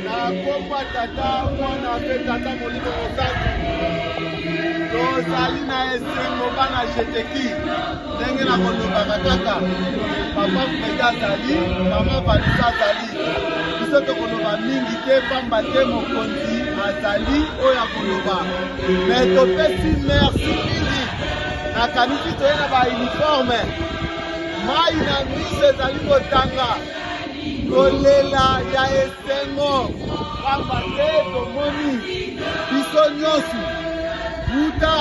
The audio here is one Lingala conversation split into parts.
nakopa tata mwana mpe tata molimo mosantu tozali na esengo bana jeteki ndenge na kolobaka kaka papa fredi azali mama vanisa azali biso tokoloba mingi te pamba te mokonzi azali oyo akoloba me topesi merci mingi nakanisi toye na bauniforme Mai na miso ezali kotanga, kolela ya esengo, pamba te tomoni biso nyonso uta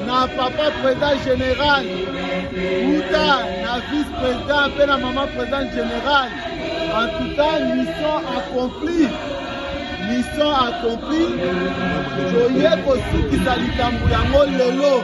na papa president general, uta na vice president mpe na mama president general. En tout cas, mission accomplie mission accomplie toye kosukisa likambo yango lelo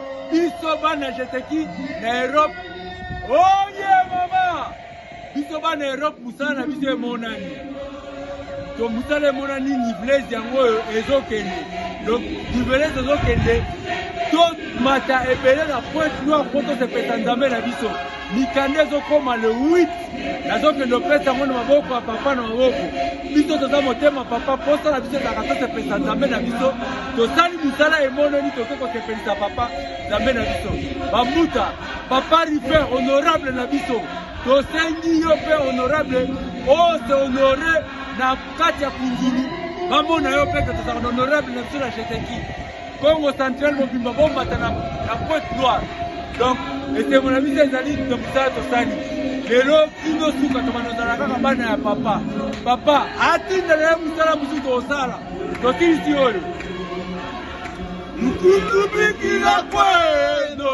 biso bana jeteki na Europe oye mama biso bana Europe mosala na biso emonani to mosala emonani nivelese yango oyo ezokende donc nivelese ezokende tomata ebele na pointe noire mpo tosepesa nzambe na biso mikanda ezokoma le 8 nazokende opesa yango na maboko ya papa na maboko biso toza motema papa mposa na biso ezalaka tosepelisa nzambe na biso tosali mosala emononi toke kosepelisa papa nzambe na biso bamuta papa rifer honorable na biso tosengi yo mpe honorable ose honore na kati ya kunzulu bamona yo mpe ke tozalaka na honorable na biso na jeteki Congo central mobimba bomata na pointe noire donc esengo na biso ezali na mosala tosali lelo bino suka tobanda ozala kaka bana ya papa papa atinda na ye mosala mosusu tosala tosilisi oyo lukutu bikila kweno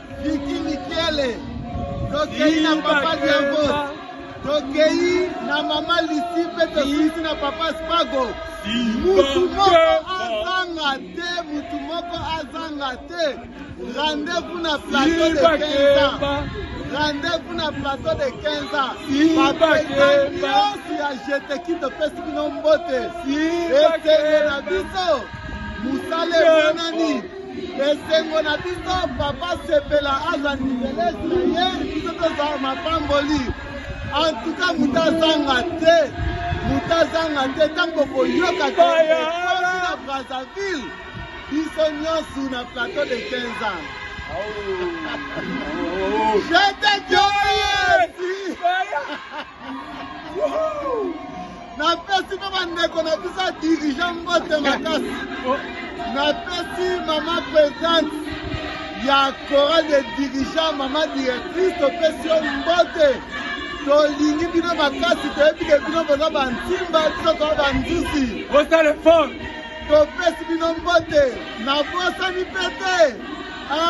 Vicky Mikele, tokei na papa Diabos, tokei na mama Lisi mpe tosilisi na papa Spago. Mutu moko azanga te, mutu moko azanga te. Rendez-vous na plateau de 15 ans. Rendez-vous na plateau de 15 ans. Bapeka nyonso ya jeteki topesi bino mbote. Esenge na biso mosala emonani. esengo na biso papa sepela aza niveles na ye biso toza mapamboli antuka moto azanga te moto azanga te ntango boyoka toya na brazzaville biso nyonso na plateau de 15 ans Jete Joyeux! napesi mpe bandeko na biso ya dirigeant mbote makasi napesi mama presente ya coral de dirigeant mama directrice topesi yo mbote tolingi bino makasi toyebi ke bino boza bantimba biso toa banzusi topesi bino mbote nabosani mpe te